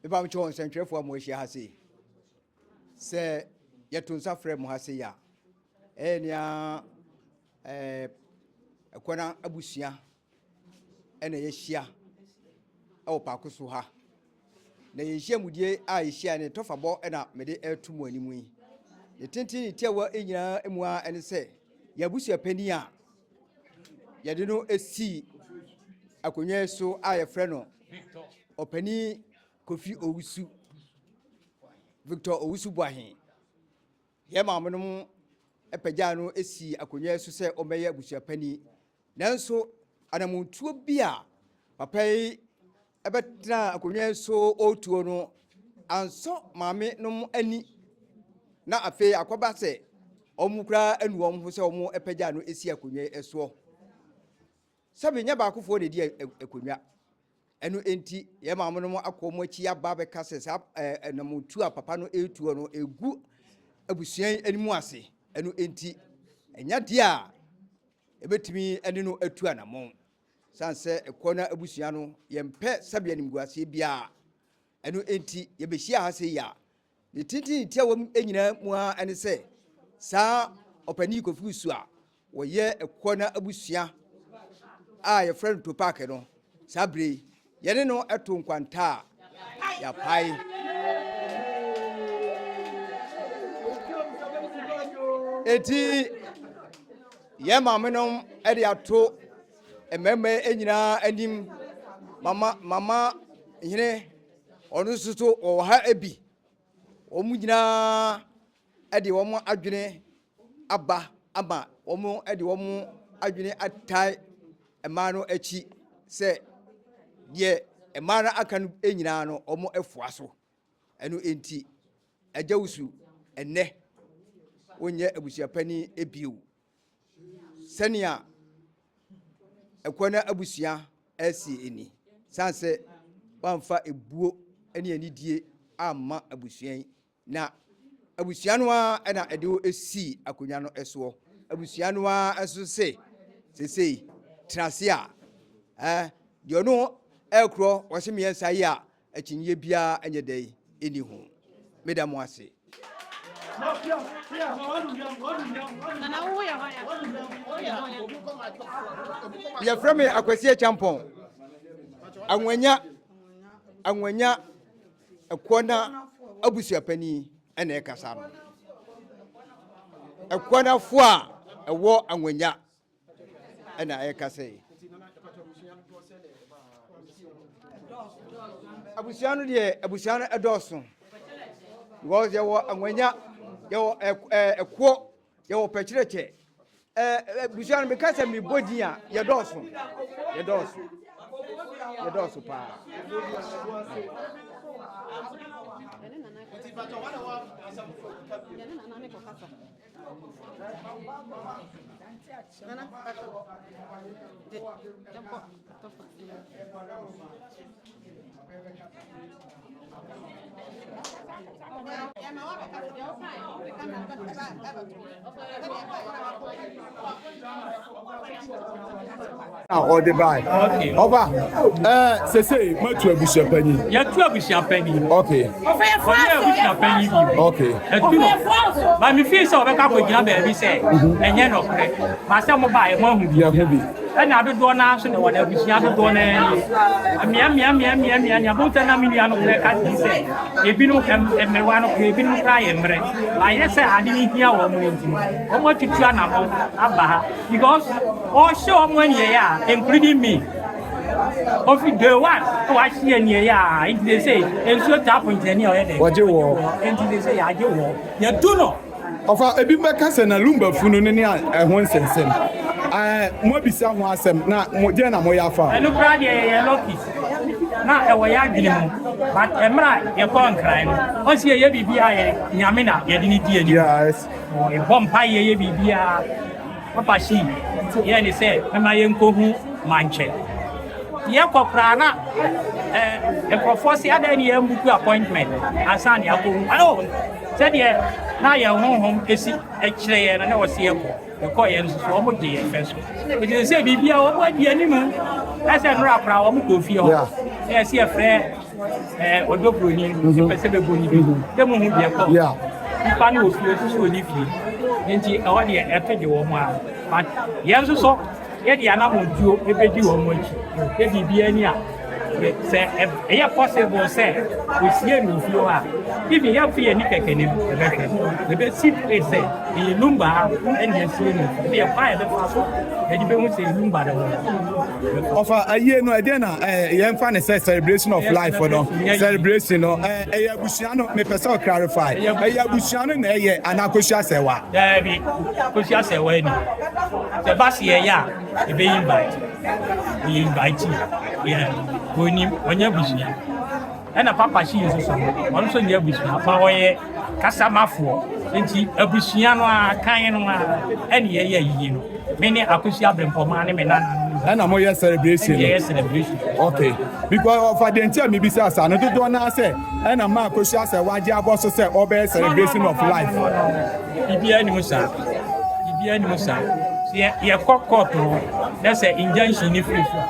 Mepa mo kyɛw nsɛntwerɛfoɔ a mo ahyia ha sei, sɛ yɛto nsa frɛ mo ha sei a, ɛyɛ nea ɛɛ ɛkwana abusua ɛna yɛahyia ɛwɔ paako so ha. Na yɛnhyia mu die a yɛhyia ne tɔfabɔ ɛna mede ɛto mo anim yi. Ne tenten ne tiawa nyinaa mu a ɛne sɛ yɛn abusua panin a Yɛde no sii akonnwa yi so a yɛfrɛ no Ɔpanin Kofi Owusu, Victor Owusu Boahen. Yɛn maamenom apagyaa no sii akonnwa yi so sɛ ɔmmɛyɛ abusuapanin. Nanso anammɔntuo bi a papa yi Ɛbɛtenaa akonnwa yi so ɔretuo no, ansɔ maame nom ani, na afei akɔba sɛ wɔn koraa anu wɔn ho sɛ wɔpagya no si akonnwa yi soɔ. Sɛbi nyɛ baakofoɔ na ɛdi akonnwa. Ɛno enti, yɛn maame nom akɔ wɔn akyi aba abɛka sɛ saa ɛnamotu a papa no retuo no ɛgu abusua yi anim ase. Ɛno enti, ɛnyɛ deɛ a ɛbɛtumi ne no atu anamɔn. Esiane sɛ ɛkɔ na abusua no, yɛmpɛ sɛbe animguaseɛ biara. Ɛno enti, yɛbɛhyia ha sɛ yi a, ne tenten tiawa mu nyinaa mu ara ɛne sɛ, saa ɔpanin Kofi Su a wɔyɛ ɛkɔ na abusua a yɛfrɛ no Topak no, saa bere yi, Yɛne no to nkwanta a, yɛapae. Enti yɛn maamenom de ato mmarima nyinaa anim mama mama hene ɔno nso so wɔwɔ ha bi wɔn nyinaa de wɔn adwene aba ama wɔde wɔn adwene ataa mmaa no akyi sɛ deɛ mmaa no aka no nyinaa no wɔafoa so. Ɛno nti, Agya Wusu ɛnnɛ wonyɛ abusuapanin bio. Sɛnea Akwana abusua ɛresie ni, sane sɛ woamfa ebuo ne anidie amma abusua yi. Na abusua no ara na ɛde wo sii akonnwa no soɔ. Abusua no ara nso se, Seesei, tena ase a, eh, deɛ ɔno ɛrekorɔ wɔse mmiɛnsa yi a, akyinnyeɛ biara nyɛ dɛn ɛni ho. Meda mo ase. Yɛfrɛ me Akwasi Akyampɔn. Anwanya, Anwanya. Ɛkoɔ no abusuapanin na ɛrekasa no. Ɛkoɔ no afoɔ a ɛwɔ anwanya na ɛrekasa yi. Abusua no deɛ abusua no ɛdɔɔso. Because yɛwɔ anwanya, yɛwɔ ɛkoɔ, yɛwɔ pɛkyerɛkyɛ. Eh, eh, busua no meka sɛ mebɔ din a yɛdɔɔso yɛdɔɔso yɛdɔɔso paa Nana, na ɔde bae ɔba ɛɛ sese matu abusua panyin. yɛtu abusua panyin. ok ɔyɛ abusua panyin bi. ok ɛtu no maame fi sɛ ɔbɛka kɔ gyina baabi sɛ ɛnyɛ nɔkorɛ maa sɛ mo ba ɛmo ahu bi. yɛn ho bi. Ɛna dodoɔ no ara so ne wɔn abusua dodoɔ no ara nie. Mmeameameameamea, nea botan na me nua no korɛ ka ne sɛ, ebinom ɛm, mmerewa no korɛ, ebinom koraa yɛ mmerɛ. Ayɛ sɛ ade no hia wɔn no nti, wɔn atutu anamɔn aba ha. Because ɔhyɛ wɔn aniɛyɛ a, including me. Ofi day one na wahye aniɛyɛ a, nti de sɛ, nsuo tap nkyɛne a ɔyɛ dɛ. Wɔgye wɔ. Nti de sɛ, yɛagye wɔ. Yɛtu no. Ɔfa, Ebinom bɛka sɛ na Lumba funu no ne a ɛho nsensɛn. Ɛɛ, moabisa ho asɛm, na mo, dɛn na moyɛ afa ho? Ɛno koraa deɛ yɛyɛ lucky. Na ɛwɔ yɛn adwene mu, but mmerɛ a yɛkɔɔ Nkran no, wɔn se yɛyɛ biribiara a, yɛn Nyame na yɛde no di anim. Yɛbɔ mpaeɛ, yɛyɛ biribiara. Papa Shi yɛɛ ne sɛ mɛma yɛnkɔhu Mankyɛ. Yɛkɔ koraa na eh, nkurɔfoɔ se adɛn ne yɛmbuku appointment ansa ne akɔhu ma no. Sɛdeɛ na yɛn honhom si kyerɛ yɛn no na wɔse yɛkɔ. Yɛkɔeɛ nso so wɔn gye yɛn fɛ so. Nti sɛ sɛ biribiara wɔn adi anim sɛ nnora koraa wɔn kɔɔ fie hɔ na yɛse yɛfrɛ Ɔdɔ buroni nti pɛ sɛ bɛbɔ ne bi dɛ mu hu deɛ kɔ nipa no wɔ fie nso so ɔni fie nti ɛwɔ deɛ ɛto de wɔ mu a but yɛn nso so yɛde anamɔntuo ɛbɛdi wɔ mu akyi yɛ biribiara ni a sɛ ɛyɛ possible sɛ ɔsie no wɔ fie hɔ a even yɛmfe yɛni kɛkɛ no ɛbɛhwɛ ɛbɛsi fei sɛ ɛyɛ numba ɛne asie no ɛne ɛkwan ɛbɛfa so ɛde bɛhu sɛ numba no ho Ɔfa ayie no ɛdeɛ na ɛɛ yɛn fa ne sɛ celebration of life no celebration no ɛɛ ɛyɛ abusua no mepɛ sɛ ɔclarify ɛyɛ abusua no na ɛyɛ anaa kosua sɛwa. Daabi kosua sɛwa ni sɛ ba si ɛyɛ a ebe invite ɔyɛ invite yɛ onim ɔnyɛ abusua. Ɛna Papa Hyi nso so no, ɔno nso nyɛ abusua fa, ɔyɛ kasamafoɔ. Nti abusua no ara, kan no ara, ɛne yɛyɛ ayiyi no. Me ne Akwesi Abrempɔmaa ne me nana no. Ɛna moyɛ celebration no? Ɛne yɛyɛ celebration. Okay. Because ɔfa deɛ nti a mebisa saa no, dodoɔ no ara sɛ ɛna ma Akwesi asɛ wagye abɔ so sɛ ɔbɛyɛ celebration of life. No, no, no, no, no. Biribiara nni mu saa. Biribiara nni mu saa. Sɛ yɛkɔ kɔɔto hɔ, na sɛ injunction no firi so a,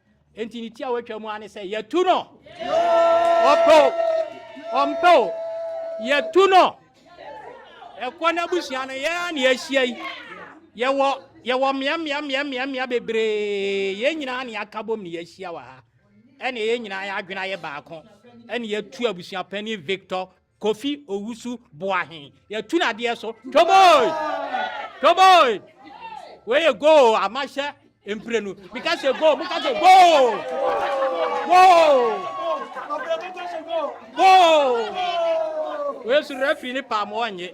Enti ne ti a watwa mu ara ne sɛ yɛtu no. Ɔpɛ o, ɔmpɛ o, yɛtu no. Ɛkɔ n'abusua no yɛn a na yɛahyia yi. Yɛwɔ yɛwɔ mmeammeammeammeammea bebree. Yɛn nyinaa na yɛaka bom na yɛahyia wɔ ha. Ɛne yɛn nyinaa yɛn adwene ayɛ baako. Ɛne yɛtu abusua panin Victor Kofi Owusu Boahe yɛtu no adeɛ so toboi toboi wei yɛ goal amahyɛ mprenu meka sɛ goal meka sɛ goal goal goal wei so referee ne paa ma ɔnye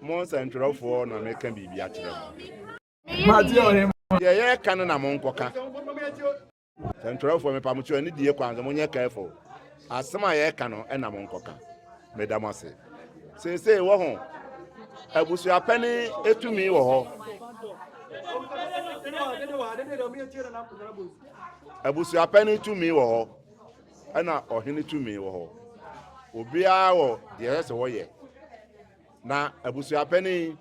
Mo nsɛntwerɛfoɔ na meka biribi akyerɛ mo. Deɛ yɛreka no na monkɔka. Nsɛntwerɛfoɔ mepa mo kyerɛ ne die kwan so monyɛ careful. Asɛm a yɛreka no na monkɔka. Meda mo ase. Seesei wɔ ho abusuapɛne etumi wɔ hɔ. Abusuapɛne tumi wɔ hɔ. Ɛna ɔhene tumi wɔ hɔ. Obiara wɔ deɛ ɛsɛ sɛ wɔyɛ. Na abusuapɛne yi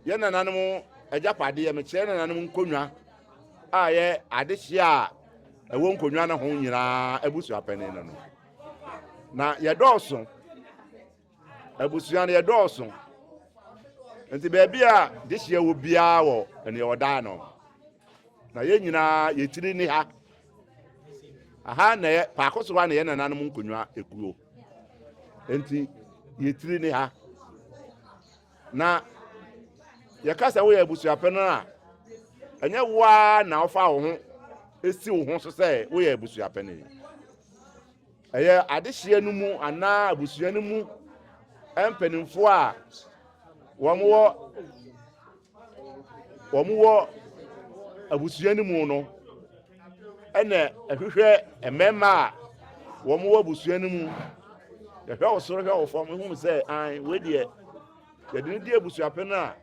yɛ nananom agyapadeɛ. Mekyerɛ nananom nkonnwa a yɛ adehyeɛ a ɛwɔ nkonnwa no ho nyinaa abusuapɛne no no. Na yɛdɔɔso. Abusua no yɛdɔɔso, nti baabi a dehyeɛ wɔ biara wɔ nea ɔdaa no. Na yɛn nyinaa yɛtiri ni ha. Aha na yɛ paako so ha na yɛn nananom nkonnwa ekuo. Nti yɛtiri ni ha. Na yɛka sɛ woyɛ abusuapɛ no a ɛnyɛ wo ara na wofa wo ho si wo ho so sɛ woyɛ abusuapɛ no. Ɛyɛ adehyeɛ no mu anaa abusua no mu mpanimfoɔ a wɔn wɔ wɔn wɔ abusua no mu no ɛna ɛhwehwɛ mmarima a wɔn wɔ abusua no mu yɛhwɛ wo soro hwɛ wo fam ehunu sɛ an wei deɛ yɛde no di abusuapɛn a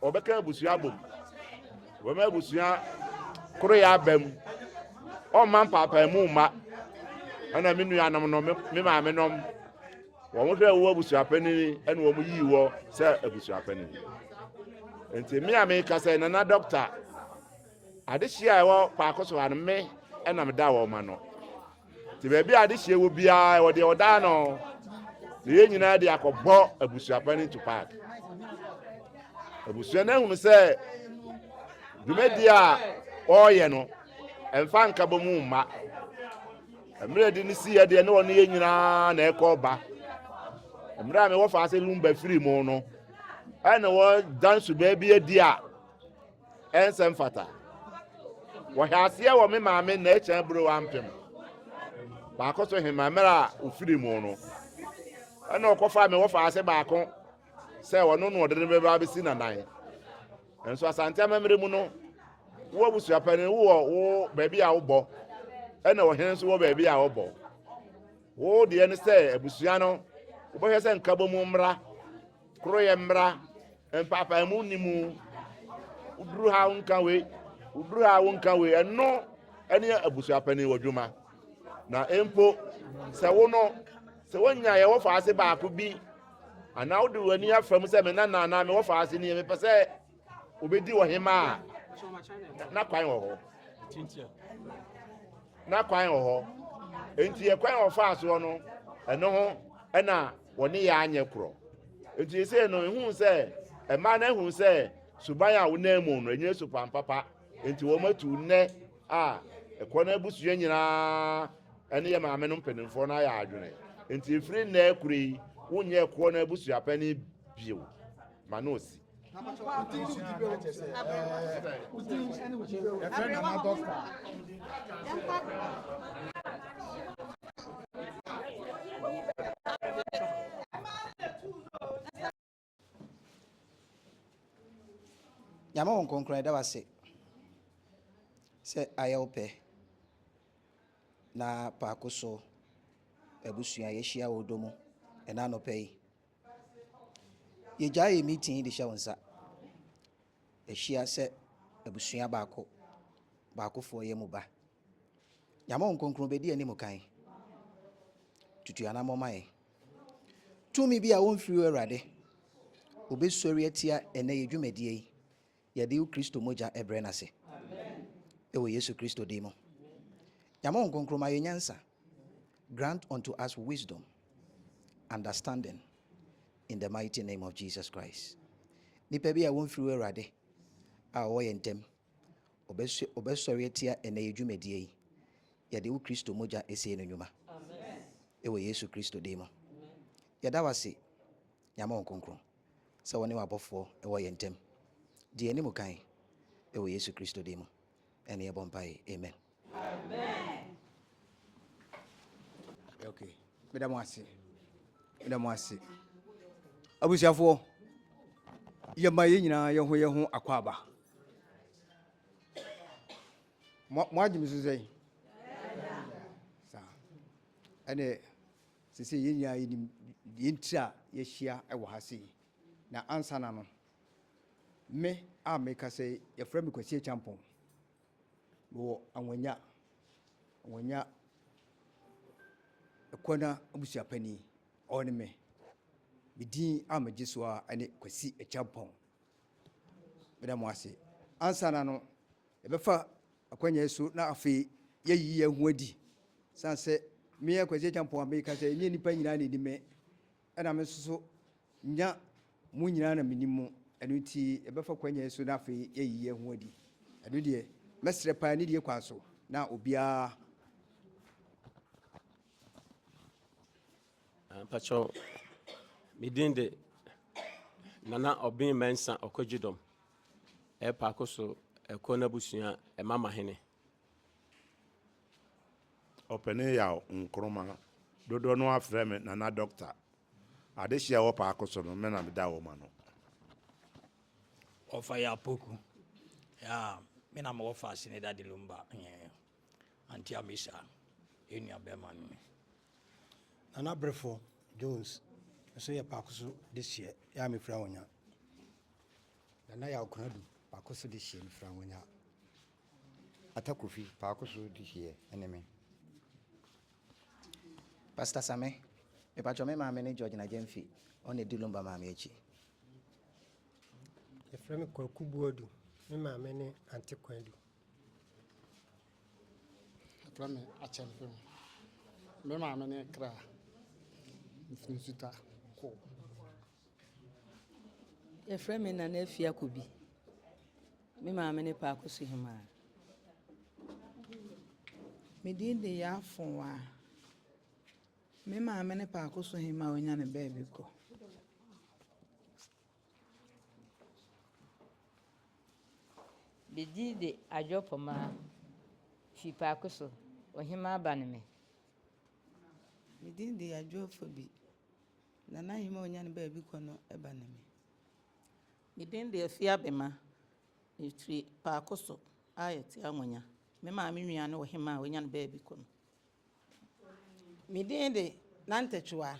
Wɔbɛka abusua abom. Wɔbɛma abusua koroyɛ aba mu. Ɔmma mpaapaamu mma. Ɛna me nuanom no, me maame nom, wɔn hwɛ wɔ abusua panyin ɛna wɔn yii wɔ sɛ abusua panyin. Nti me a meka sɛ nana dɔkta, adehyia a ɛwɔ paako so ha no me ɛna meda wɔn ma no. Te baabi a adehyeɛ wɔ biara ɛwɔ deɛ ɔda ano na yɛn nyinaa de akɔbɔ abusuapa no ntu paak abusua no ahunu sɛ dwumadi a ɔreyɛ no ɛmfa nka bɔ mu mma mmerɛ de no si yɛ deɛ ne ɔne yɛn nyinaa na ɛkɔ ba mmerɛ a mewɔ fa ase lumba firi mu no ɛna wɔdan subaa bi adi a Ɛnsɛ mfata. Wɔhɛ aseɛ wɔ me maame na ɛkyɛn bere wampem baako so hema mmerɛ a ofiri mu no ɛna ɔkɔfa me wɔfa ase baako sɛ ɔno na ɔde ne bɛba abɛsi nanan nso asante amammerɛ mu no wo abusuapani wowɔ wo baabi a wobɔ ɛna ɔhene nso wɔ baabi a wɔbɔ wo deɛ ne sɛ abusua no wobɛhwɛ sɛ nkabɔ mu mmra Koroyɛ mmra, mpaapaemu nni mu. Wo duru ha wonka wei, wo duru ha wonka wei. Ɛno ne abusuapanin wɔ dwuma. Na mpo sɛ wo no, sɛ wonya yɛwɔ faase baako bi anaa wode w'ani afa mu sɛ me nana anaa mewɔ faase nie mepɛ sɛ obedi ɔhemaa a na kwan wɔ hɔ na kwan wɔ hɔ nti yɛ kwan wɔ faa soɔ no ɛno ho ɛna wɔne yɛ anyɛ korɔ nti sɛ no ehu sɛ ɛmaa no ehu sɛ suban a wɔnam mu no enye supan papa nti wɔn atu nnɛ a ɛkɔ no abusua nyinaa ɛne yɛ maame no mpanimfoɔ no ayɛ adwene nti efiri nnɛ kure yi wonyɛ ɛkoɔ no abusua panyin bio ma no osi. nyame wo nkonkron ɛda wase sɛ ayɛ wo pɛ na paako so abusua yɛhyia wɔ dɔ mu ɛna anɔpɛ yi Yɛgyae yɛn meeting yi de hyɛ wo nsa. Yɛahyia sɛ abusua baako baakofoɔ yɛn mu ba. Nyame Honhom Kronkron bɛdi yɛn anim kan. Tutu yɛn anammɔn ma yɛn. Tumi bi a wɔmfiri wo Awurade, wɔbɛsɔre atia ɛnnɛ yɛn dwumadie yi. Yɛde wo Kristo mogya brɛ no ase wɔ Yesu Kristo din mu. Nyame Honhom Kronkron ma yɛn nyansa, grant unto us wisdom, understanding in the mighty name of Jesus Christ. Nipa bi a wɔmfiri wo Awurade a ɔwɔ yɛn ntam, ɔbɛsɔre atia ɛnɛ yɛ dwumadie yi. Yɛde wo Kristo mogya ɛsie no nnwuma. Ɛwɔ Yesu Kristo din mu. Yɛda wase, Nyame Honhom Kronkron. sɛ wɔne w'abɔfoɔ wɔ yɛn ntam. Di yɛn anim kan, wɔ Yesu Kristo din mu ne yɛbɔ mpaeɛ, amen. Ok, meda mo ase, meda mo ase. Abusuafoɔ, yɛma yɛn nyinaa yɛn ho yɛn ho akwaaba. Mo agye me so sɛn? Saa. Ɛne Seesei yɛn nyinaa yenim deɛ enti a yɛahyia wɔ ha sei. Na ansa na no, me a merekasa yi, wɔfrɛ me Kwasi Acheampong. Mewɔ Anwanya, Anwanya Akuana abusua panin, ɔno ne me. Me din a megye so ara ne Kwasi Acheampong. Meda mo ase. Ansa na no, yɛbɛfa Akwanya yi so na afei yɛayi yɛn ho adi. Esiane sɛ me yɛ Kwasi Acheampong a mereka sɛ ɛnyɛ nnipa nyinaa na ɛnim me, ɛna me nso so nya mo nyinaa na menim mo, ɛno nti yɛbɛfa kwanya yi so na afei yɛayi yɛn ho adi. Ɛno deɛ, mɛsrɛ paa nidie kwan so na obiara. Ah, mpakyɛw, me din de Nana Obeng Mensah Ɔkɔgyedɔm. Ɛrepa kɔ so kɔ n'abusua mamahene. Ɔpɛne Yaw Nkrumah, dodoɔ no ara frɛ me Nana Doctor. Adehyeɛ a ɛwɔ paako so no, me na meda wɔn ano. Ɔfa yɛ Apoku, me na mewɔ Faase ne Dadilumba. Anti Amisa, yɛn nuabarima no ni. Nana Berefo Jones nso yɛ Pakoso dehyeɛ, yɛ a mefiri Anwonya. Nana Yaw Konadu, Pakoso dehyeɛ, mefiri Anwonya. Atta Kofi, Pakoso dehyeɛ, ɛne me. Pastor Same, mepatwɔ me maame ne George Nagyamfi, ɔno na ɛdi Lumba maame akyi. Yɛfrɛ me Kwaku Boadu, me maame ne Ante Kwadu. Ɛfrɛ me akyɛmpem. Me maame ne kra. Mfiri nsuta kɔ. Ɛfrɛ me nana afi akobi. Me maame ne paako so hemaa. Me din de yɛ afowa. Me maame ne paako so hemaa onya ne baabi kɔ. Bedzii dze Adwow Poma fi paako so, Ohemaa aba no me. Me dzin de Adwow Fobi, Nana Ahemaa onya ne baabi kɔ no ba no me. Me dzin de Afia Bema, mefi paako so a yɛtse Anwonya, me maame nua ne Ohemaa a onya ne baabi kɔ no. Me dzin de Nantɛtwewa.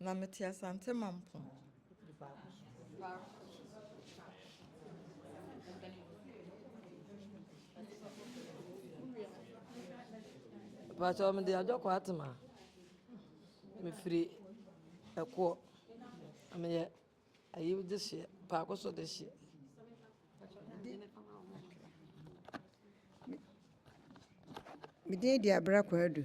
Na mete Asante Mampong. Pakyɛ mede adwɔkɔ atema mefiri ɛkoɔ meyɛ ayi de hyeɛ paako so de hyeɛ medin di abira kwaadu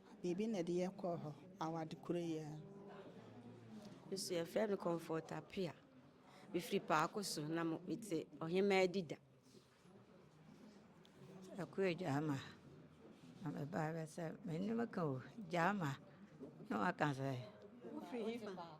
Biribi na ɛde yɛ kɔɔ hɔ award koro yi ara. Me so yɛfrɛ me Comfort Apea. Mefiri Paako so na mo mete Ɔhemaa Adida. Ɛkoyɛ Gyama na me ba bɛ sɛ me ne me ka o Gyama na waka sɛ. Wofiri hefa?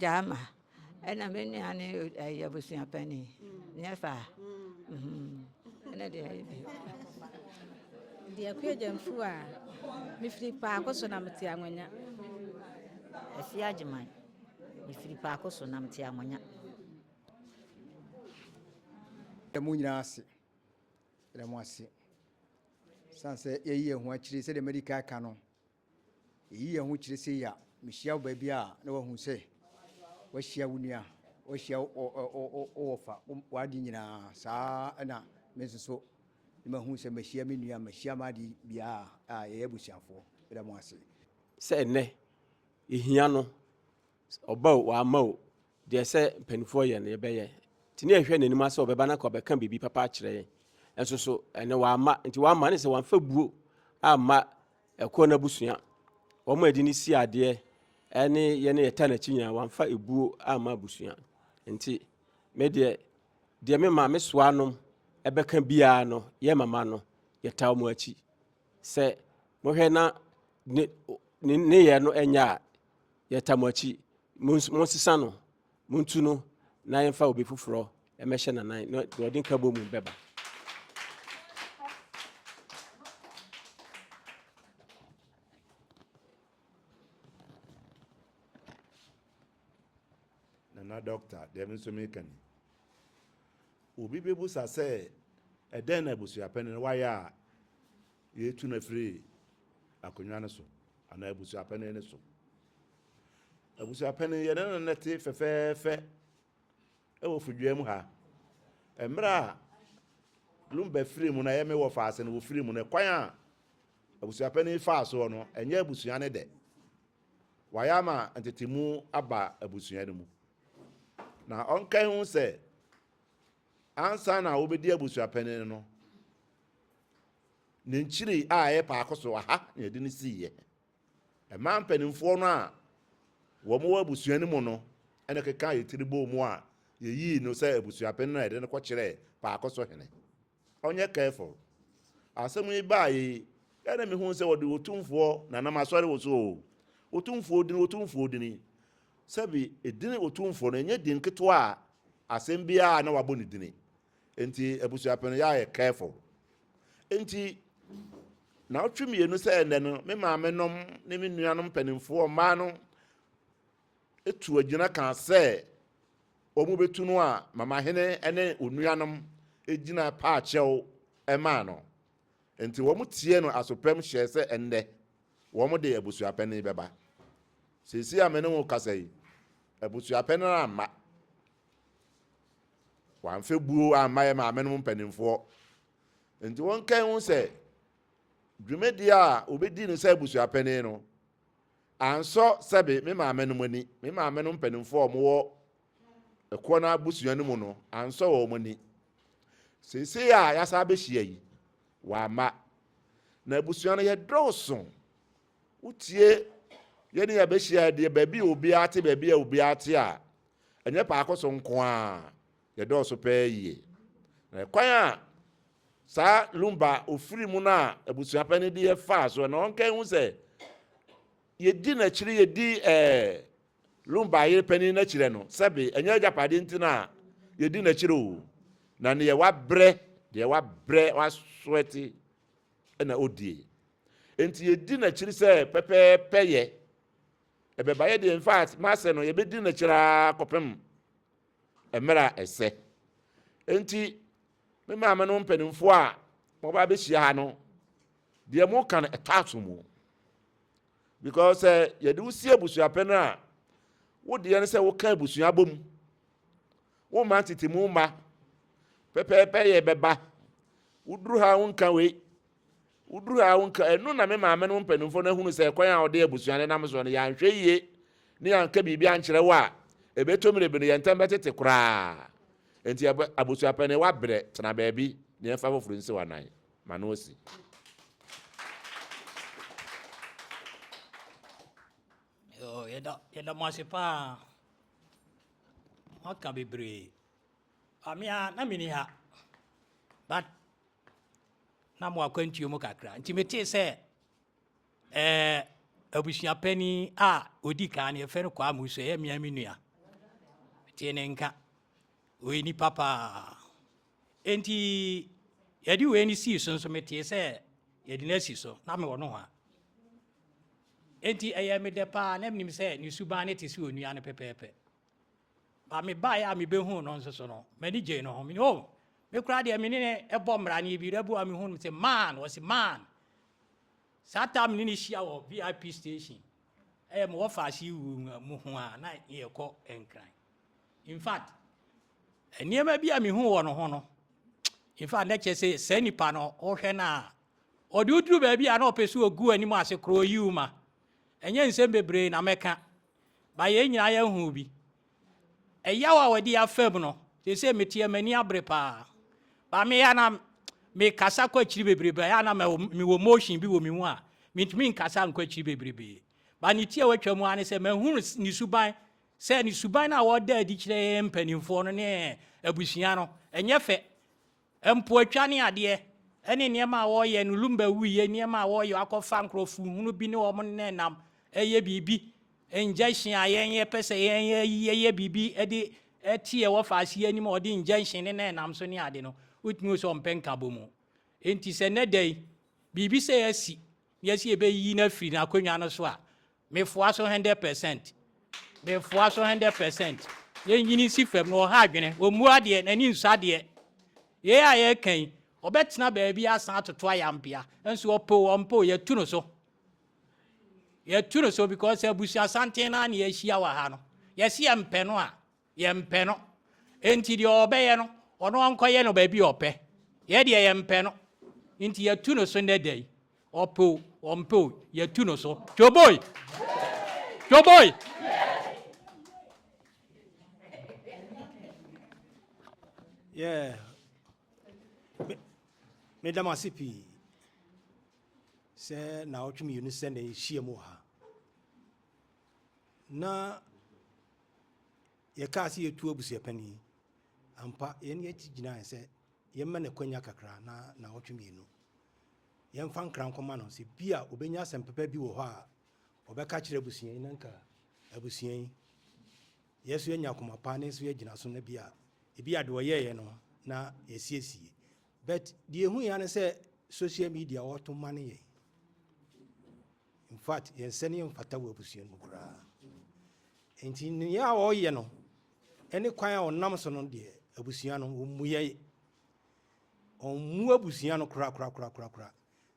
Gyama ɛna me nua ne ɛyɛ abusua pani nyɛ saa ɛna deɛ ɛyɛ bi deɛ kɔ agya mfu a mefiri paako so na mete anwanya ɛsi agyeman mefiri paako so na mete anwanya ɛmu nyinaa ase Yɛda mo ase. San sɛ yɛyi yɛn ho akyire sɛdeɛ madi kan aka no, yɛyi yɛn ho kyerɛ sɛ yi a mehyia wo baabi a na wahu sɛ wahyia wo nua, wahyia wɔfa w'ade nyinaa saa ɛna me nso so ne mahu sɛ mahyia me nua, mahyia m'ade biara a yɛyɛ abusuafoɔ. Yɛda mo ase. Sɛ ɛnnɛ yɛhia no Sɛ ɔba o, wamma o, deɛ ɛsɛ mpanimfoɔ yɛ no yɛbɛyɛ. Nti ne yɛhwɛ n'anim asɛ ɔbɛba na kɔ bɛka biribi papa akyerɛ yɛn. Nso so ɛnɛ wamma. Nti wamma ne sɛ wamfa buo amma ɛkoɔ no abusua. Wɔn a ɛde ne si adeɛ ɛne yɛn ne yɛta n'akyi nyinaa wamfa ebuo amma abusua. Nti me deɛ deɛ me maame soa nom ɛbɛka biara no yɛ mama no yɛta wɔn akyi. Sɛ mohwɛ na ne ne ne yɛ no ɛnyɛ a Yɛta mo akyi, monsu, monsesa no, montu no na yɛmfa obi foforɔ mmɛhyɛ n'anan na deɛ ɔde nkabom mu bɛba. Nana dɔkta, deɛ me nso meka ni. Obi bɛbusa sɛ, ɛdɛn na abusuapɛne no wayɛ a yɛtu no afiri akonnwa no so? Anaa abusuapɛn no so. Abusuapɛn, yɛne no na te fɛfɛɛfɛ wɔ Fudua mu ha. Mmerɛ a Lumba firii mu no, ɛyɛ me wɔfa ase no, wɔfirii mu no, kwan a abusuapɛn yi faa soɔ no, ɛnyɛ abusua no dɛ. Wɔayɛ ama ntetemu aba abusua no mu. Na ɔnkan ho sɛ, ansa na wobɛdi abusuapɛn no, Ne nkyiri a ɛyɛ paako so aha na yɛde no siiɛ. Ɛmaa mpanimfoɔ no a wɔn wɔ abusua no mu no ɛna keka yɛ tiri bɔɔ mu a yɛyii no sɛ abusuapɛn na yɛde no kɔkyerɛɛ paako so hene. Ɔnyɛ careful. Asɛm yi baa yɛ yi ɛna mehuu sɛ wɔde otumfoɔ na nam asɔre wɔ so o. Otumfoɔ dini otumfoɔ dini. Sɛbi edini otumfoɔ no ɛnyɛ din ketewa a asɛm biara na wabɔ ne dini. Nti abusuapɛn no yɛayɛ careful. Nti naawɔtwe mmienu sɛ ɛnɛ no me maame nom ne me nuanom mpanimfoɔ mmaa no tu agyina kaa sɛ wɔn bɛtu no a mama hene ne onuanom gyina paakyɛw maa no. Nti wɔn tie no asopɛm hyɛɛ sɛ ɛnɛ wɔn de abusuapɛn yi bɛba. Seesei a me ne wo kasa yi abusuapɛn no amma. Wɔamfa buo amma yɛn maamenom mpanimfoɔ. Enti wɔnkae ho sɛ dwumadie a wɔbɛdi no sɛ abusuapanin no ansɔ sɛbe me maamenom ani. Me maamenom mpanimfoɔ a wɔwɔ ɛkoɔ no abusua no mu no ansɔ wɔn ani. Seesei a yɛasa abɛhyia yi, wɔamma. Na abusua no yɛdɔɔso. Wotie yɛne yɛabɛhyia deɛ baabi a obiara te baabi a obiara te a Ɛnyɛ paako so nko a, yɛdɔɔso pɛɛ yie. Na ɛkwan a saa Lumba a ɔfiri mu no a abusua pɛ no deɛ faa so na ɔnka hu sɛ yɛdi n'akyiri yɛdi ɛɛ Lumba yere panin n'akyirɛ no sɛbe ɛnyɛ agyapadeɛ nti no a yɛdi n'akyiri o na neɛ wabrɛ deɛ wabrɛ wasoɛte na ɔdie nti yɛdi n'akyiri sɛ pɛpɛɛpɛ yɛ Ɛbɛba yɛ deɛ in fact m'asɛ no yɛbɛdi no akyire ara kɔpem mmerɛ a ɛsɛ. Enti me maame no mpanimfoɔ a wɔba abɛhyia ha no deɛ moka no ɛtɔ aso mu because sɛ yɛde wo si abusuapɛ no a wo deɛ no sɛ woka abusua bom wo ma tete mu mma pɛpɛɛpɛ yɛ bɛba woduru ha wonka wei Woduru ha a, wonka, Ɛno na me maame no mpanimfoɔ no ahunu sɛ kwan a wɔde abusua no nam soɔ no, yɛanhwɛ yie na yɛanka biribi ankyerɛ wo a, ɛbɛtɔ mmere bi no, yɛn ntam bɛtete koraa. Enti ɛbɛ, abusuapanin, woabrɛ, tena baabi na yɛmfa foforɔ nsi wo anan, ma no asi. Yoo, yɛda, yɛda mo ase paa. Moaka bebree. Ah, me ara, na menni ha. But na mo akwantuo mu kakra nti metee sɛ ɛɛ abusua panyin a odi kan no yɛfrɛ no kwaa mu so ɛyɛ mmea me nua tee ne nka ɔyɛ nipa paa enti yɛde wei no sii so nso metee sɛ yɛde no asi so na mewɔ no ho a enti ɛyɛ medɛ paa na menim sɛ ne suban no te sɛ onua no pɛpɛɛpɛ Ba mebaeɛ a mebɛhuu no nso so no, m'ani gyee no ho. Mene o, me koraa deɛ mene ne ɛbɔ mmara no bi rɛbu a mehu no sɛ man, wɔsi man. Saa taa mene ne hyia wɔ VIP station. Ɛyɛ mewɔ faase yi wu mu ho a na yɛkɔ nkran. In fact, nneɛma bi a mehu wɔ no ho no, in fact, na kyerɛ sɛ saa nipa no wohwɛ no a ɔde woduru baabi a na ɔpɛ so ɔgu anim ase korɔ ɔyiw ma ɛnyɛ nsɛm bebree na mɛka ba yɛn nyinaa yɛn ho bi ɛyaw a wɔde afam no sese meteɛ m'ani abere paa ba meya na mekasa kɔ akyiri bebrebe ɛyɛ na mewɔ motion bi wɔ me mu a mentumi nkasa nkɔ akyiri bebrebe ba ne ti a watwa mu ane sɛ mahunu ne suban sɛ ne suban no a wɔda adi kyerɛ yɛn mpanimfoɔ no ne abusua no ɛnyɛ fɛ Mpoatwa ne adeɛ ne nneɛma a wɔyɛ no lumba wuiɛ nneɛma a wɔyɛ akɔfa nkurɔfo hunu bi ne wɔn nenam yɛ biribi injection a yɛn yɛ pɛ sɛ yɛn yɛ yɛyɛ biribi de ɛte yɛ wɔ faase anim a ɔde injection ne na ɛnam so ne ade no wotumi wɔ sɛ ɔmpɛ nkabɔ mu nti sɛ nɛ da yi biribi sɛ yɛasi yɛsi yɛbɛyi no afiri n'akonnwa no so a Mefoa so hundred percent. Mefoa so hundred percent. Yɛnyini nsi fam na ɔha adwene. Ɔmmu adeɛ, n'ani nsɔ adeɛ. Yei a yɛreka yi, ɔbɛtena baabi asan atoto ayampea. Nso ɔpɛ o, ɔmpɛ o, yɛatu no so. Yɛatu no so because abusua santen no ara na yɛahyia wɔ ha no. Yɛse yɛmpɛ no a, Yɛmpɛ no. Enti deɛ ɔbɛyɛ no, ɔno ɔnkɔyɛ no baabi a ɔpɛ. Yɛ deɛ yɛmpɛ no. Nti yɛatu no so nnɛ da yi. Ɔpɛ o, ɔmpɛ o, yɛatu no so. Twoboi! Twoboi! Yeah. Meda mo ase pii sɛ na ɔtwe mmienu sɛ na ɛhyia mu ha. na yɛkaa sɛ yɛtu abusuapanin. Ampa, yɛne yɛakyi gyinae sɛ yɛmma no akwanya kakra na naawɔtwe mmienu. Yɛmfa nkra nkɔma no sɛ bi a ɔbɛnya asɛm papa bi wɔ hɔ a ɔbɛka kyerɛ abusua yi na nka abusua yi yɛ so yɛnya akoma pa ne nso yɛgyina so na bi a ebi a deɛ ɔyɛeɛ no na yɛsiesie but deɛ ɛhu yɛ ne sɛ social media wɔto ma no yɛ In fact, yɛn sɛneɛ mfata wɔ abusua no mu koraa. Enti nea a ɔyɛ no ne kwan a ɔnam so no deɛ abusua no wɔmmuyɛ. Ɔmmu abusua no korakorakorakorakora.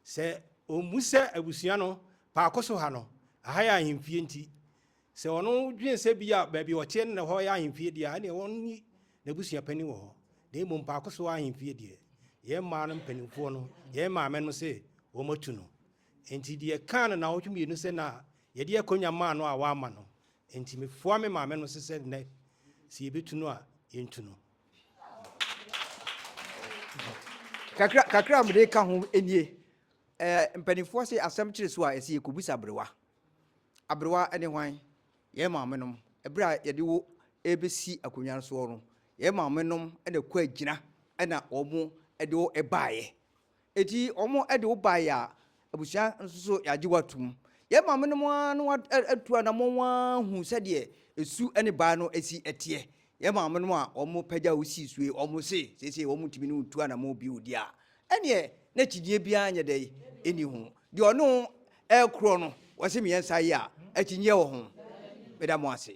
Sɛ ɔmmu sɛ abusua no paako so ha no, aha yɛ ahemfie nti, sɛ ɔno dwen sɛ bi a baabi ɔteɛ no na hɔ yɛ ahemfie deɛ a, ɛneɛ wɔnni n'abusua panin wɔ hɔ. Na mmom paako so ahemfie deɛ, yɛn mmaa no mpanimfoɔ no, yɛn maame no se wɔatu no. Enti deɛ kaa no naawɔtwe mmienu sɛ na yɛde akonnya maa no a wamma no. Enti mefoa me maame no se sɛ nnɛ sɛ yɛbɛtu no a yɛntu no. Kakra kakra a mede ka ho nie. Ɛɛ mpanimfoɔ se asɛm kyere so a ɛsɛ yɛkɔbisa aberewa. Aberewa ne hwan? Yɛn maame nom. Ɛberɛ a yɛde wo rebɛsi akonnya no soɔ no, yɛn maame nom na ɛkɔ agyina na wɔn de wo baeɛ. Enti wɔde wo baeɛ a, abusua nso so yɛagye wo atom. Yɛn maamenom ara na wɔatu anammɔn ahunu sɛdeɛ esu ne baa no si teɛ. Yɛn maamenom a wɔpagya wo sii so yi, wɔse seesei wɔntumi ne wo ntu anammɔn bio deɛ a, ɛnneɛ na akyinnyeɛ biara nyɛ dɛn? Nni ho. Deɛ ɔne wo rekorɔ no, wɔse mmiɛnsa yi a, akyinnyeɛ wɔ ho? Meda mo ase.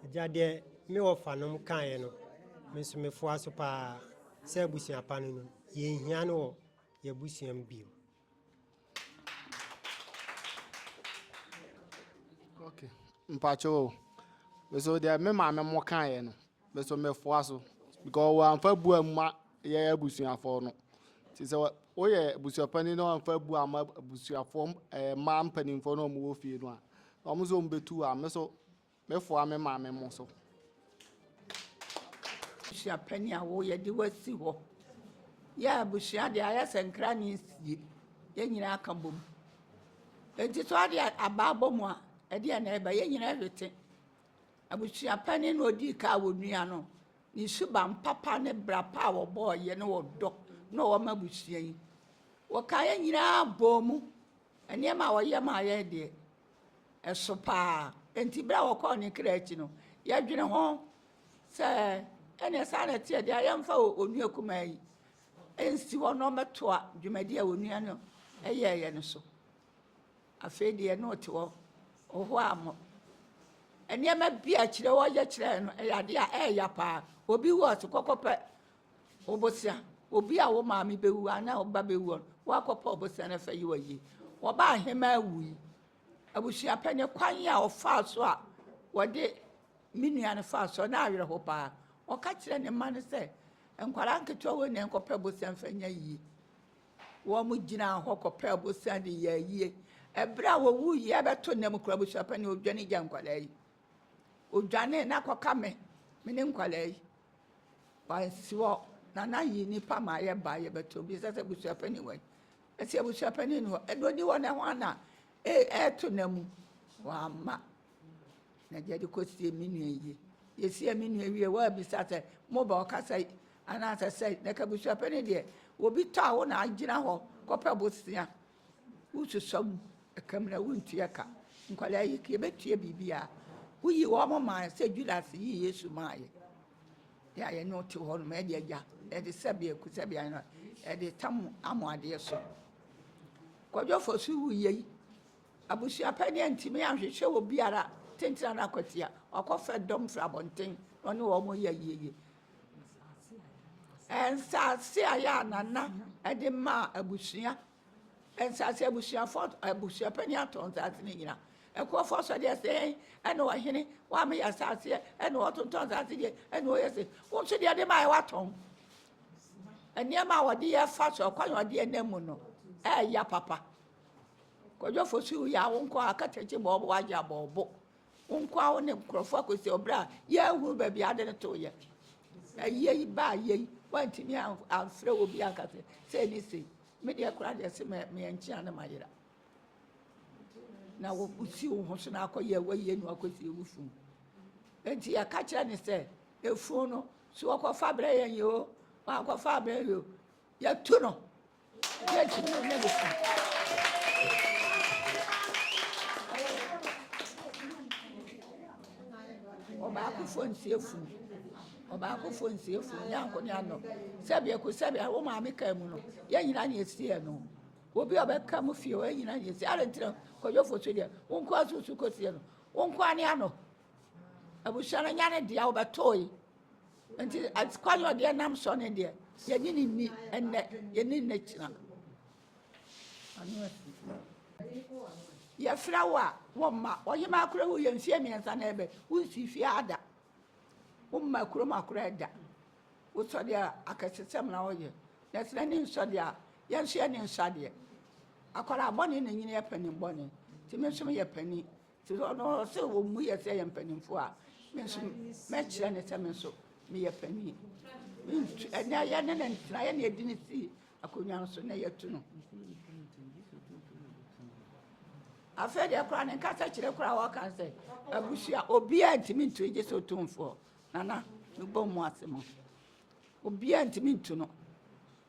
Agya, deɛ me wɔfanom kaeɛ no, me nso mefoa so paa sɛ abusua pa no no, yɛnhia no wɔ yɛn abusua mu bio. Okay. Mpacho, so deɛ me maame mo kaeɛ no, Me nso mɛfoa so because wɔamfa bu amma yɛn abusuafoɔ no. Nti sɛ woyɛ abusuapanin na wɔamfa bu amma abusuafoɔ ɛɛ mmaa mpanimfoɔ na wɔwɔ fie no a, wɔn nso wɔbɛtu a, me nso mɛfoa me maame mo so. Abusuapanin a wo yɛde wasi hɔ. Yɛ abusua deɛ ayɛ sɛ nkra ne nsie. Yɛn nyinaa ka bom. Nti so adeɛ abaa bɔ mu a, ɛdeɛ na ɛba yɛn nyinaa hwete. Abusua panyin na odii kan a onua no ne suban papa ne bra pa a wɔbɔɔ yɛ ne ɔdɔ na ɔwɔ ma abusua yi. Wɔkaa yɛ nyinaa bɔɔ mu. Nneɛma a wɔyɛ maa yɛ deɛ, ɛso paa. Enti bere a wɔkɔɔ ne kra akyi no, yɛdwene ho sɛ ɛneɛ saa na ɛteɛ deɛ a yɛmfa onua kumaa yi nsi hɔ na ɔmmɛtoa dwumadi a onua no yɛeɛ no so. Afei deɛ na ɔte hɔ, ɔhoaa mo. Nneɛma bi a kyerɛ wɔyɛ kyerɛɛ no, ɛyɛ adeɛ a ɛyɛ ya paa. Obi wu a, so kɔkɔpɛ ɔbosea. Obi a wo maame bɛwu anaa wo ba bɛwu a, woakɔpɛ ɔbosea na fa yi wa yie. Wɔba ahemaa wu yi, abusua pɛ ne kwan a ɔfaa so a wɔde me nua no faa so na awerɛho paa. Ɔka kyerɛ ne mma no sɛ, nkwadaa nketewa wei na ɛnkɔpɛ bosea mfa nya yie. Wɔgyinaa hɔ kɔpɛɛ abosea de yɛɛ ayie. Berɛ a wɔwuiɛ abɛto nna mu koraa abusuapɛn no ɔdwane gya nkwadaa yi. Ɔdwane na akɔka me, me ne nkwadaa yi. Wansi hɔ na na ayi nnipa ma ayɛ baa yɛbɛto bi sɛ sɛ abusuapɛn wɔ yi. Ɛsɛ abusuapɛn ni hɔ, ɛna ɔni hɔ na hwan na ɛreto nna mu? Wamma. Na gya de kɔsie me nua yie. Yɛsiee me nua wie, woabisa sɛ moba ɔka sɛe anaasɛ sɛe. Na kabusuapɛ no deɛ, obi tɔ a wo na agyina hɔ kɔpɛ bosea. Wososɔ mu ɛka mu na wontua ka. Nkwadaa yi, yɛbɛtua biribiara. Woyi wɔn maa sɛ Judas yi Yesu maa yɛ. Yɛ a yɛne wote hɔ nom, ɛde agya, ɛde sɛbea, ku sɛbea no, ɛde tam amoadeɛ so. Kwadwofoɔ so wuyei. Abusua pa ni antumi anhwehwɛ obiara tentena no akwati a, wakɔfrɛ dɔm firi abɔnten na ɔne wɔn yɛ ayieyie. Nsaase a yɛ a nana de maa abusua, nsaase abusuafoɔ, abusua pa ni atɔ nsaase no nyina. Ɛkuafoɔ sɔ deɛ sɛn ɛna ɔhene wame yɛ asaaseɛ ɛna ɔtontɔn nsaase deɛ ɛna ɔyɛ se wo nso deɛ de maa yɛ watɔn nneɛma a wɔde yɛ fa so ɔkwan a wɔde yɛ nam mu no ɛɛya papa Kwadwo fo so ya wo nko a ka kyerɛ kye bɔɔbo agye abɔɔbo wo nko a wo ne nkurɔfo akɔsi ɔbrɛ a yɛahunu baabi ade no to yɛ ɛyɛ yi baa yɛ yi wantumi amfrɛ wɔ bi anka sɛ sɛ ne sei me deɛ kora deɛ se meɛ nkyea ne mayera na wosi wo ho so na akɔyɛ wɔyɛ nu akɔsi wo funu nti yɛka kyerɛ ne sɛ efunu no so wɔkɔfa brɛ yɛn yi o wɔakɔfa brɛ yɛ o yɛtu no ɔbaakofo nsi efunu ɔbaakofo nsi efunu ne anko ne ano sɛbi eko sɛbi awo maame kaa mu no yɛn nyinaa na esi yɛn no obi a ɔbɛka mu fie hɔ yɛn nyinaa na esi ara ntina kɔyɔfo so deɛ wɔn nko asusu kɔ sie no wɔn nko ani ano abusua no nya ne deɛ ɔbɛtɔ yi. Nti ati kwan yɛ ɔdeɛ nam sɔ ne deɛ yɛne ne nni ɛnɛ yɛne ne kyina yɛfrɛ wo a wɔmma ɔhema akora wo yɛ mfie mmiɛnsa na ɛbɛ wonsi fie ada womma kurom akora ɛda wosɔ deɛ akɛsesɛm na ɔyɛ na ɛsena ne nsɔ deɛ a yɛnso yɛ ne nsɔ adeɛ akwaraa bɔne na nyini yɛ panin bɔne nti me nso meyɛ panin Te sɛ ɔno, ɔsɛ wɔn mu yɛ sɛ yɛ mpanimfoɔ a, me nso mɛkyerɛ ne sɛ me nso meyɛ panin. Mentu ɛnɛ yɛ ne ne ntena yɛ ne yɛdi ne si akonnwa no so na yɛatu no. afei deɛ koraa ne nkasa kyerɛ koraa wɔka sɛ abusua obiaa ntumi ntu gye sɛ ɔtumfoɔ nana mebɔ mu ase mu obiaa ntumi ntu no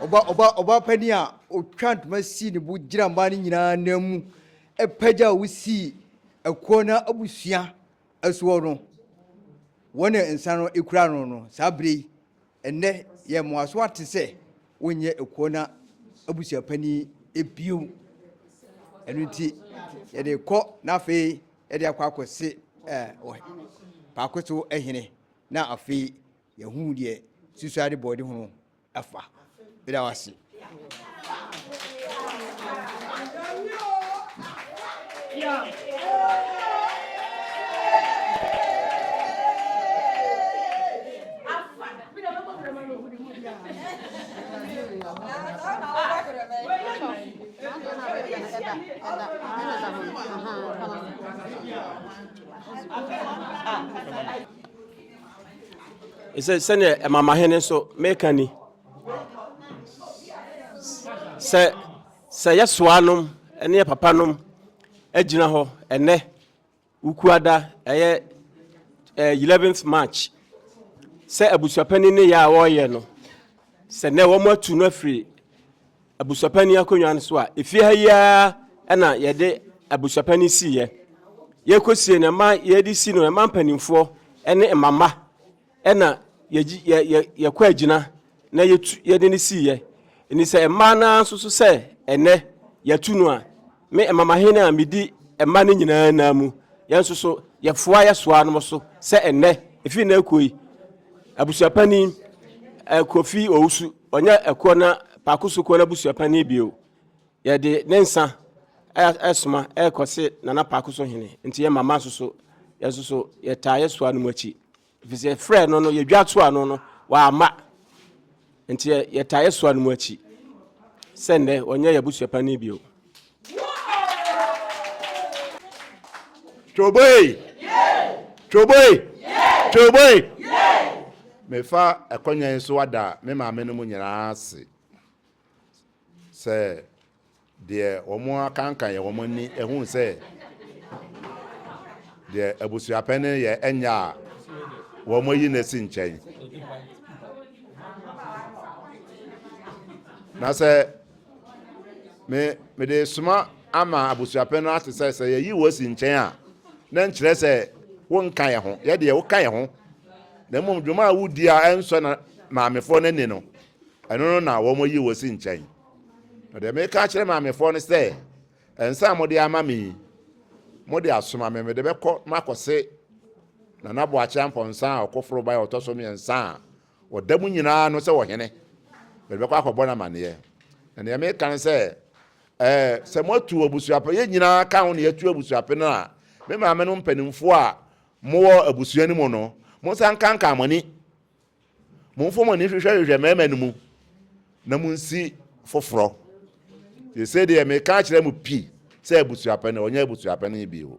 Ɔbaa panin a ɔtwaa ntoma sii ne bo gyinaa mmaa no nyinaa anan mu pagyaa a wosii ɛkoɔ no abusua soɔ no, wɔn nsa no kura no no saa berɛ yi. Ɛnnɛ, yɛn mmoasoa te sɛ wonyɛ ekuo no abusuapanin bio. Ɛno nti, yɛde rekɔ na afei yɛde akɔ akɔse paako so hene na afei yɛhu deɛ susuade bɔɔde ho afa. Meda wo ase. sɛ sɛdeɛ ɛmamahene nso meka ni Sɛ sɛ yɛ soa nom ɛne yɛ papa nom agyina hɔ ɛnɛ wukuada ɛyɛ ɛɛ eh, 11th March sɛ abusuapanin ne yɛ a wɔreyɛ no sɛ nɛ wɔn atu no afiri abusuapanin akonnwa no so a efie ha yi ara ɛna yɛde abusuapanin si yɛ yɛkɔsie no ɛma yɛde si no ɛma mpanimfoɔ ɛne mmamma. Ɛna yɛgye yɛ yɛ yɛkɔ agyina na yɛtu yɛde no sii yɛ ɛni sɛ mmaa naa nso so sɛ ɛnɛ yɛtu no a me ɛmamahene a medi ɛma no nyinaa naa mu yɛn nso so yɛfoa yɛsoa no so sɛ ɛnɛ efi na ɛkɔ yi abusuapanin ɛkofi owusu ɔnyɛ ɛkɔ na paako so kɔ na abusuapanin bio. Yɛde ne nsa ɛresoma ɛrekɔ se Nana Paako so hene nti yɛ mama nso so yɛn nso so yɛtaa yɛsoa no mu akyi ɛfiri sɛ yɛfrɛ no no yɛdwa to ano no wɔama nti yɛtaa yɛsoa no mu akyi sɛ nnɛ wɔnyɛ yɛ abusuapani bio. Twoboe! Twoboe! Twoboe! Mefa ɛkɔnya yi so ada me maame no mu nyinaa ase. Sɛ deɛ wɔakanka yɛ wɔn ani hu sɛ deɛ abusuapɛ no yɛ ɛnyɛ a, wɔayi no asi nkyɛn. Na sɛ me mede soma ama abusuapɛ no ate sɛ sɛ yɛyi wɔ asi nkyɛn a, na nkyerɛ sɛ wonka yɛ ho, yɛ deɛ woka yɛ ho, na mmom dwuma a wodi a ɛnsɔ na maamefoɔ no ani no, Ɛno no na wɔayi wo asi nkyɛn. Na deɛ meka akyerɛ maamefoɔ no sɛ, nsa a mode ama me yi, mode asoma me, mede bɛkɔ makɔse Nana Boakye Ampɔnsa a ɔkoforo bae ɔtɔ so mmiɛnsa a ɔda mu nyinaa no sɛ ɔhene. Mede bɛkɔ akɔbɔ no amanneɛ. Na deɛ meka no sɛ, ɛɛ, sɛ moatu abusuapɛ, yɛn nyinaa ka ho na yɛatu abusuapɛ no a, me maame no mpanimfoɔ a mowɔ abusua no mu no, monsa nkankan mo ani Momfa mo ani nhwehwɛhwehwɛ mmarima no mu, na munsi foforɔ. Seesei deɛ meka akyerɛ mo pi sɛ abusuapɛn, ɔnyɛ abusuapɛn bio.